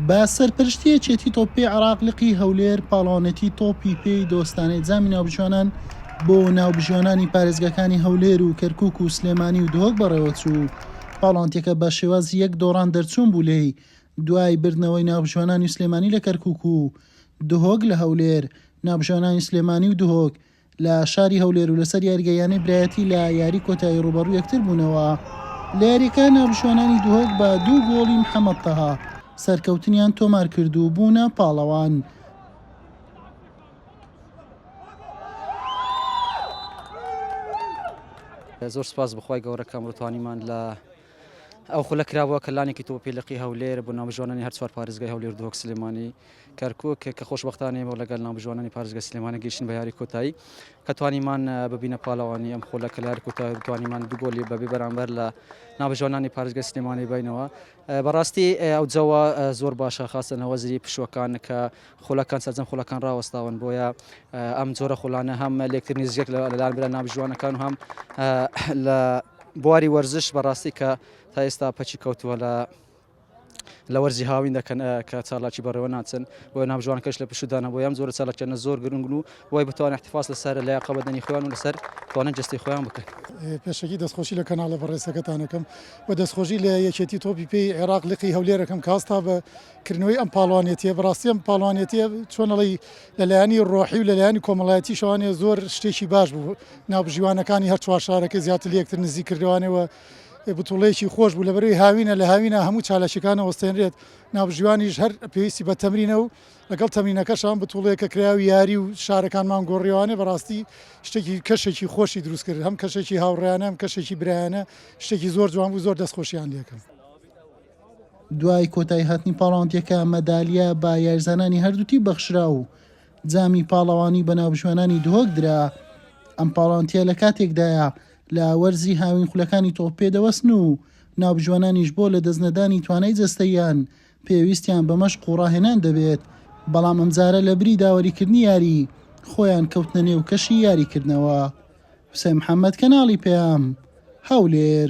بە سەرپەرشتی یەکێتی تۆپی عراق لقی هەولێر پاڵاوانێتی تۆپی پێی دۆستانەی جامی ناوبژیوانان بۆ ناوبژیوانانی پارێزگاکانی هەولێر و کەرکک و سلێمانی و دهۆک بەڕێوەچوو پاڵانتەکە بە شێوازی یەک دۆڕان دەرچوون بوو لێی دوای بردنەوەی ناوبژیوانانی سلێمانی لە کەرکک و دهۆک لە هەولێر ناوبژیوانانی سلێمانی و دهۆک لە شاری هەولێر و لەسەر یاریگای یانەی برایەتی لە یاری کۆتایی ڕووبەڕووی یەکتر بوونەوە لە یارییەکە ناوبژوانانی دهۆک بە دوو گۆڵی محەمەد تەها سەرکەوتنیان تۆمار کرد و بوونە پاڵەوان. زۆر سپاس بخوای گەورەکەم ڕتوانیمان لە ئەو خولە کرابووە کە لانێکی تۆپی لقی هەولێر بۆ ناوبژوانانی هەر چوار پارێزگای هەولێر و دهۆک سلێمانی کەرکوک کە خۆشبەختانە ئێمە لەگەل ناوبژوانانی پارێزگای سلێمانی گەیشتین بە یاری کۆتایی کە توانیمان ببینە پاڵەوانی ئەم خولە کە لە یاری کۆتایی بتوانیمان دوو گۆلی بەبێ بەرامبەر لە ناوبژوانانی پارێزگای سلێمانی بینەوە بەڕاستی ئەو جەوە زۆر باشە خاستە هەوەزری پشوەکان کە خولەکان سەرجەم خولەکان ڕاوەستاون بۆیە ئەم جۆرە خولانە هەم لێکترنی زیەک لەلایەن برا نابژوانەکان و هەم لە بواری وەرزش بەڕاستی کە تا ئێستا پەچی کەوتووە لە لە وەرزی هاوین دەکەن کە چالاکی بەڕێوە ناچن بۆ نابژوانەکەش لە پشودانە بۆ یان زۆر چالاکیانە زۆر گرنگن و وای بتوانێت احتفاس لەسەر لە قەبەدەنی خۆیان و لەسەر توانن جستی خۆیان بکەن پێشەکی دەستخۆشی لە کەناڵە بەڕێسەکەتانەکەم و دەستخۆشی لە یەکێتی تۆپی پێی عێراق لقی هەولێرەکەم کاستا بە کردنەوەی ئەم پاڵەوانێتیە بەڕاستی ئەم پاڵەوانێتیە چۆن ئەڵێی لەلایەنی ڕۆحی و لەلایەنی کۆمەڵایەتی شەوانێ زۆر شتێکی باش بوو ناوبژیوانەکانی هەر چوار شارەکە زیاتر لەکتر نزی کردوانەوە بتوڵێکی خۆش بوو لە بەروی هاوینە لە هاوینە هەموو چالاکیەکانە وەستێنرێت ناوبژیوانیش هەر پێویستی بە تەمرینە و لەگەڵ تەمرینەکەشان بتوڵێکە کرا و یاری و شارەکانمان گۆڕیوانێ بەڕاستی شتێکی کەشێکی خۆشی دروست کرد هەم کەشێکی هاوڕیانە ئەم کەشێکی برایانە شتێکی زۆر جوان بوو زۆر دەستخۆشیان لەکەم. دوای کۆتاییهاتنی پاڵاوتنەکە، مەدالیا بە یاریزانانی هەردوو تیپ بەخشرا و جامی پاڵەوانی بە ناوبژوانانی دهۆک درا. ئەم پاڵاوتیە لە کاتێکدایە لە وەرزی هاوین خولەکانی تۆپ پێ دەوەستن و ناوبژوانانیش بۆ لە دەستنەدانی توانای جەستەییان پێویستیان بە مەشق و ڕاهێنان دەبێت، بەڵام ئەمجارە لە بری داوەریکردنی یاری، خۆیان کەوتنە نێو کەشی یاریکردنەوە. حوسێن محەممەد، کەناڵی پەیام، هەولێر.